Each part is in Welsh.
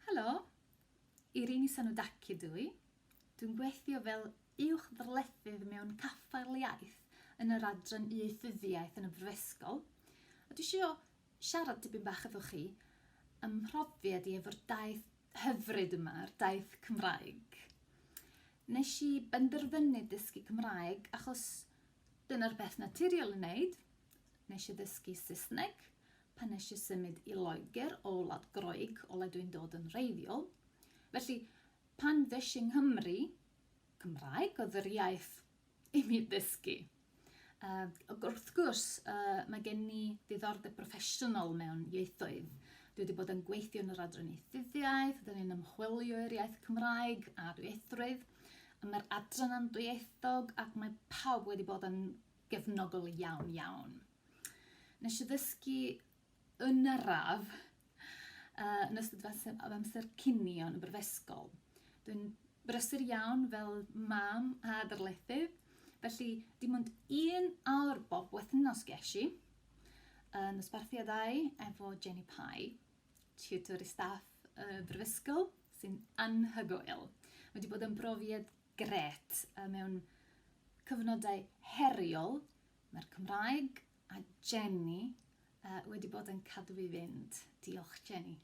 Helo! Irini Sanoudaki dw i. Dwi'n gweithio fel Uwch-ddarlithydd mewn Caffael Iaith yn yr Adran Ieithyddiaeth yn y Brifysgol, a dwi isio siarad tipyn bach efo chi ym mhrofiad i efo'r daith hyfryd yma, yr daith Cymraeg. Nes i benderfynu dysgu Cymraeg achos dyna'r peth naturiol i wneud. Nes i ddysgu Saesneg, Pan nes i symud i Loegr o wlad Groeg, o le dwi'n dod yn wreiddiol, felly pan ddes i 'Nghymru, Cymraeg oedd yr iaith i mi ddysgu. Ac wrth gwrs, mae gen i ddiddordeb broffesiynol mewn ieithoedd. Dwi wedi bod yn gweithio yn yr Adran Ieithyddiaeth, dyn ni'n ymchwilio i'r iaith Cymraeg a dwyieithrwydd, a mae'r adran yn dwyieithog ac mae pawb wedi bod yn gefnogol iawn, iawn. Nes i ddysgu yn araf uh, yn ystod amser, amser cynio yn y brifysgol. Dwi'n brysur iawn fel mam a darlithydd, felly dim ond un awr bob wythnos ges i yn uh, ysbarthiadau efo Jenny Pye, tutor i staff y uh, brifysgol, sy'n anhygoel. Mae wedi bod yn brofiad Gret, a mewn cyfnodau heriol, mae'r Cymraeg a Jenny wedi bod yn cadw fi fynd. Diolch Jenny.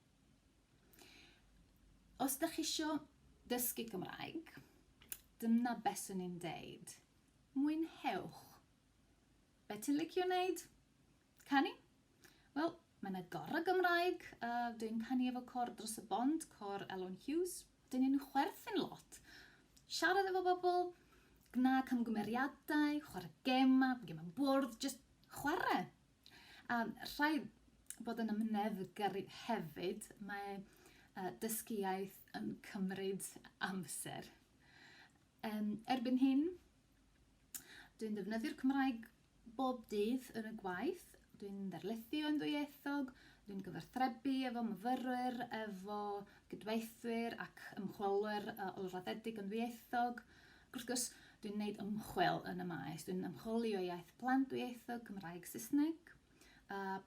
Os da chi isio dysgu Cymraeg, dyna beth swn i'n deud. Mwynhewch. Be ti'n licio wneud? Canu? Wel, mae yna gorau Gymraeg, a dwi'n canu efo cor dros y bont, cor Elon Hughes. Dyn nhw'n chwerthin lot. Siarad efo bobl, gna camgymeriadau, chwarae gema, gem am bwrdd, just chwarae. A rhai bod yn ymneddgar hefyd, mae uh, dysgu iaith yn cymryd amser. Um, erbyn hyn, dwi'n defnyddio'r Cymraeg Bob dydd yn y gwaith, dwi'n darlithio yn ddwyieithog, dwi'n gyfathrebu efo myfyrwyr, efo cydweithwyr ac ymchwilwyr ôl-raddedig yn ddwyieithog, ac wrth gwrs, dwi'n gwneud ymchwil yn y maes. Dwi'n ymchwilio iaith plant dwyieithog, Cymraeg, Saesneg,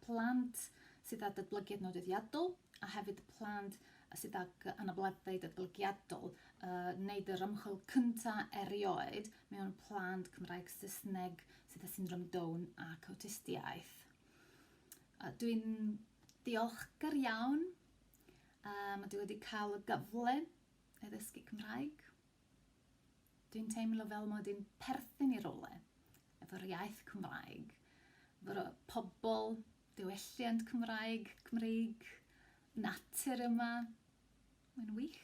plant sydd â datblygiad nodweddiadol a hefyd plant a sydd ag anableddau datblygiadol, yy, wneud yr ymchwil cynta erioed mewn plant Cymraeg Saesneg sydd â syndrom Down ac awtistiaeth. Uh, Dwi'n diolchgar iawn uh, mae dwi wedi cael y gyfle i ddysgu Cymraeg. Dwi'n teimlo fel mod i'n perthyn i rywle efo'r iaith Cymraeg, efo'r pobl, diwylliant Cymraeg, Cymreig, natur yma. Mae'n wych.